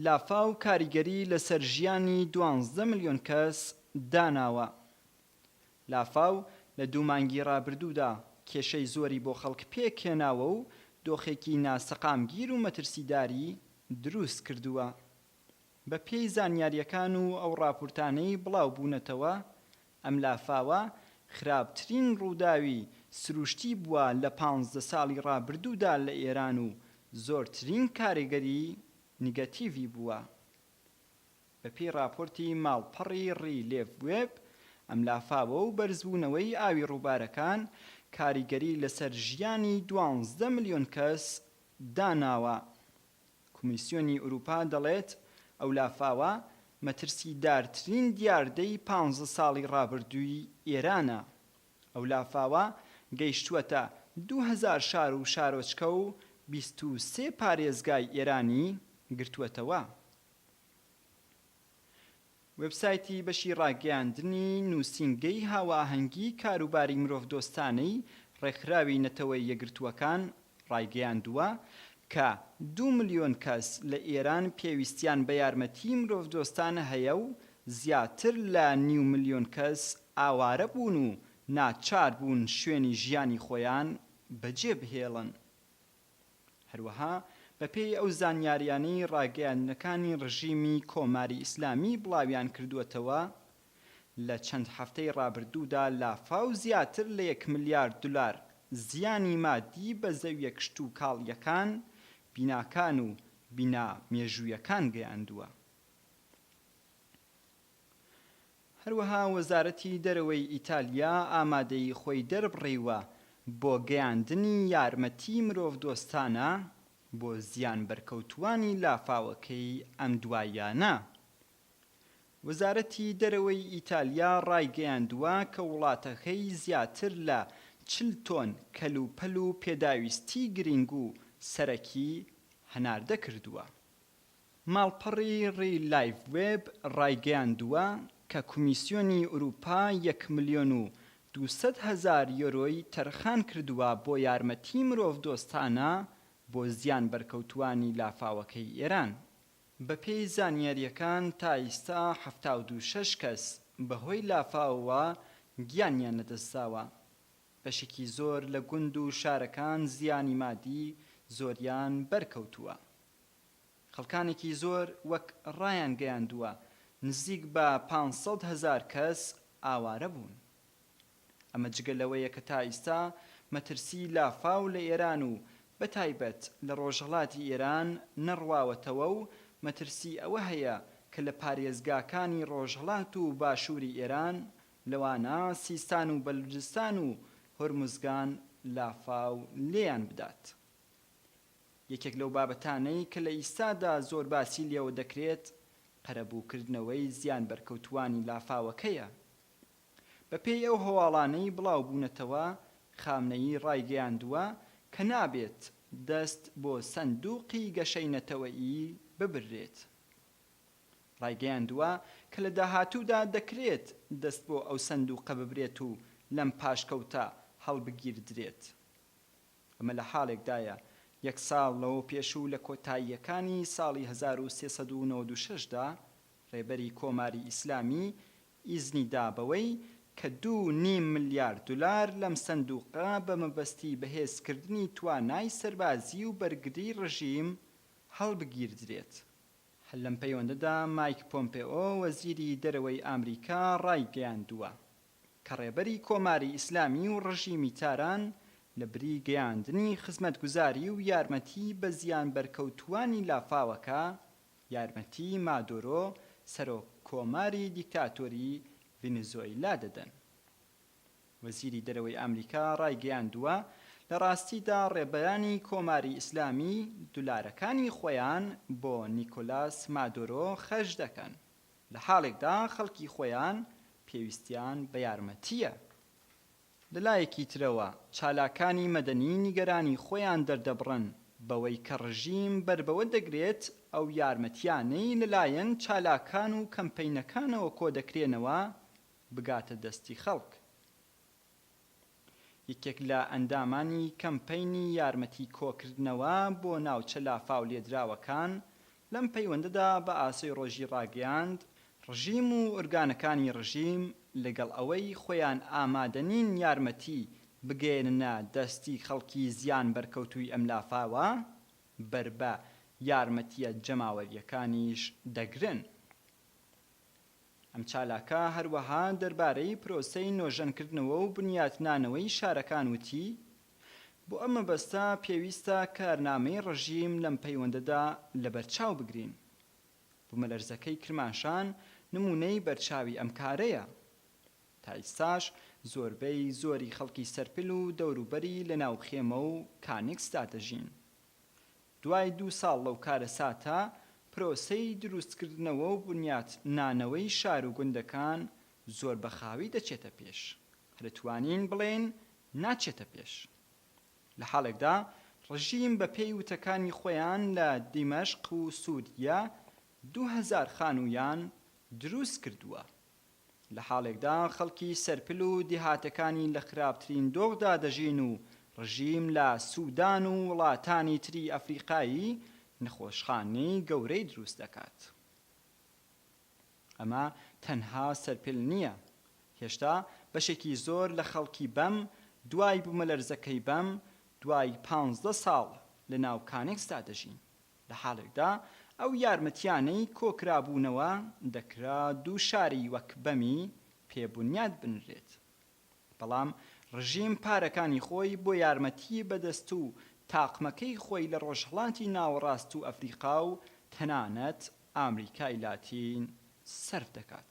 لافاو کاریگەری لەسەر ژیانی دوانزدە ملیۆن کەس داناوە. لافاو لە دوو مانگی رابردوودا کێشەی زۆری بۆ خەڵک پێکهێناوە و دۆخێکی ناسەقامگیر و مەترسیداری دروستکردووە. بەپێی زانیارییەکان و ئەو راپورتانەی بڵاوبوونەتەوە، ئەم لافاوە خراپترین ڕووداوی سروشتی بووە لە پانزدە ساڵی ڕابردوودا لە ئێران و زۆرترین کارگەری نیگەتیڤی بووە. بەپێی ڕاپۆرتی ماڵپەڕی ڕیلێڤ وێب، ئەم لافاوە و بەرزبوونەوەی ئاوی ڕووبارەکان کاریگەری لەسەر ژیانی دوانزدە ملیۆن کەس داناوە. کۆمیسیۆنی ئورووپا دەڵێت، ئەو لافاوە مەترسیدارترین دیاردەی پانزە ساڵی ڕابردووی ئێرانە. ئەو لافاوە گەیشتووەتە دوو هەزار شار و شارۆچکە و بیست و سێ پارێزگای ئێرانی گرتووەتەوە. وێبسایتی بەشی ڕاگەیاندنی نووسینگەی هاوئاهەنگیی کاروباری مرۆڤدۆستانەی ڕێکخراوی نەتەوە یەکگرتووەکان ڕایگەیاندووە کە دوو ملیۆن کەس لە ئێران پێویستیان بە یارمەتیی مرۆڤدۆستان هەیە و زیاتر لە نیو ملیۆن کەس ئاوارە بوون و ناچار بوون شوێنی ژیانی خۆیان بەجێ بهێڵن. هەروەها بەپێی ئەو زانیاریانەی ڕاگەیاندنەکانی ڕژیمی کۆماری ئیسلامی بڵاویانکردووەتەوە، لە چەند هەفتەی ڕابردوودا لافاو زیاتر لە یەک ملیار دولار زیانی مادی بە زەویە کشتوکاڵییەکان، بیناکان و بینا مێژوویەکان گەیاندووە. هەروەها وەزارەتی دەرەوەی ئیتالیا ئامادەیی خۆی دەربڕیوە بۆ گەیاندنی یارمەتی مرۆڤدۆستانە بۆ زیانبەرکەوتووانی لافاوەکەی ئەم دواییانە. وەزارەتی دەرەوەی ئیتالیا ڕایگەیاندووە کە وڵاتەکەی زیاتر لە چل تۆن کەلوپەل و پێداویستی گرینگ و سەرەکی هەناردە کردووە. ماڵپەڕی ری لایڤ وێب ڕایگەیاندووە کە کۆمیسیۆنی ئورووپا یەک ملیۆن و دوو سەد هەزار یۆرۆی تەرخان کردووە بۆ یارمەتیی مرۆڤدۆستانە بۆ زیان بەرکەوتووانی لافاوەکەی ئێران. بەپێی زانیارییەکان تا ئیستا حەفتا و دوو شەش کەس بەهۆی لافاوەوە گیانیان لەدەستداوە. بەشێکی زۆر لە گوند و شارەکان زیانی مادی زۆریان بەرکەوتووە. خەڵکانێکی زۆر وەک ڕایانگەیاندووە نزیک بە پانج سەد هەزار کەس ئاوارە بوون. ئەمە جگە لەوەیە کە تا ئیستا مەترسی لافاو لە ئێران و بە تایبەت لە ڕۆژهەڵاتی ئێران نەڕواوەتەوە و مەترسی ئەوە هەیە کە لە پارێزگاکانی ڕۆژهەڵات و باشووری ئێران لەوانە سیستان و بەلوجستان و هۆرموزگان لافاو لێیان بدات. یەکێک لەو بابەتانەی کە لە ئیستادا زۆر باسی لێوە دەکرێت قەرەبووکردنەوەی زیان بەرکەوتووانی لافاوەکەیە. بە پێی ئەو هەواڵانەی بڵاو بوونەتەوە خامنەیی ڕایگەیاندووە کە نابێت دەست بۆ سەندووقی گەشەی نەتەوەیی ببررێت. ڕایگەیاندووە کە لە داهاتوودا دەکرێت دەست بۆ ئەو سەندووقە ببرێت و لەم پاشکەوتە هەڵبگیردرێت. ئەمە لە حاڵێکدایە یەک ساڵ لەوە پێش و لە کۆتاییەکانی ساڵی هەزار و سێ سەد و نەوەد و شەش دا ڕێبەری کۆماری ئیسلامی ئیزنی دا بەوەی کە دوو نیم ملیار دولار لەم سەندوقە بە مەبەستی بەهێز کردنی توانای سەربازی و بەرگری ڕژیم هەڵبگیردرێت. هەر لەم پەیوەندەدا مایک پۆمپئۆ وەزیری دەرەوەی ئامریکا ڕایگەیاندووە، کە ڕێبەری کۆماری ئیسلامی و ڕژیمی تاران لە بری گەیاندنی خزمەتگوزاری و یارمەتی بە زیانبەرکەوتووانی لافاوەکە، یارمەتی مادۆرۆ سەرۆک کۆماری دیکتاتۆری ڤینزۆیلا دەدەن. وەزیری دەرەوەی ئامریکا ڕایگەیاندووە، لە ڕاستیدا ڕێبەرانی کۆماری ئیسلامی دولارەکانی خۆیان بۆ نیکۆلاس مادۆرۆ خەرج دەکەن. لە حاڵێکدا خەڵکی خۆیان پێویستیان بە یارمەتییە. لە لایەکی ترەوە چالاکانی مەدەنی نیگەرانی خۆیان دەردەبڕن بەوەی کە ڕژیم بەر بەوە دەگرێت ئەو یارمەتییانەی لە لایەن چالاکان و کەمپەینەکانەوە کۆدەکرێنەوە بگاتە دەستی خەڵک. یەکێک لە ئەندامانی کەمپەینی یارمەتی کۆکردنەوە بۆ ناوچە لافاو لێدراوەکان لەم پەیوەندەدا بە ئاسۆی ڕۆژی ڕاگەیاند، ڕژیم و ئورگانەکانی ڕژیم لەگەڵ ئەوەی خۆیان ئامادەنین یارمەتی بگەیەننە دەستی خەڵکی زیان بەرکەوتووی ئەم لافاوە، بەر بە یارمەتییە جەماوەرییەکانیش دەگرن. ئەم چالاکە هەروەها دەربارەی پرۆسەی نۆژەنکردنەوە و بنیاتنانەوەی شارەکان وتی، بۆ ئەم مەبەستە پێویستە کارنامەی ڕژیم لەم پەیوەندەدا لەبەرچاو بگرین. بومەلەرزەکەی کرماشان نموونەی بەرچاوی ئەم کارەیە. تا ئیستاش زۆربەی زۆری خەڵکی سەرپل و دەوروبەری لەناو خێمە و کانیکسدا دەژین. دوای دوو ساڵ لەو کارەساتە، پرۆسەی دروستکردنەوە و بنیات نانەوەی شار و گوندەکان زۆر بە خاوی دەچێتە پێش، هەرەتوانین بڵێین ناچێتە پێش. لە حاڵێکدا ڕژیم بە پێی وتەکانی خۆیان لە دیمەشق و سووریە دوو هەزار خانوویان دروست کردووە. لە حاڵێکدا خەڵکی سەرپل و دیهاتەکانی لە خراپترین دۆخدا دەژین و ڕژیم لە سودان و وڵاتانی تری ئەفریقایی نەخۆشخانەی گەورەی دروست دەکات. ئەمە تەنها سەرپل نییە، هێشتا بەشێکی زۆر لە خەڵکی بەم دوای بومەلەرزەکەی بەم دوای پانزدە ساڵ لە ناو کانێکسدا دەژین. لە حاڵێکدا ئەو یارمەتییانەی کۆکرابوونەوە دەکرا دوو شاری وەک بەمی پێ بونیاد بنرێت، بەڵام ڕژیم پارەکانی خۆی بۆ یارمەتی بەدەست و تاقمەکەی خۆی لە ڕۆژهەڵاتی ناوەڕاست و ئەفریقا و تەنانەت ئامریکای لاتین سەرف دەکات.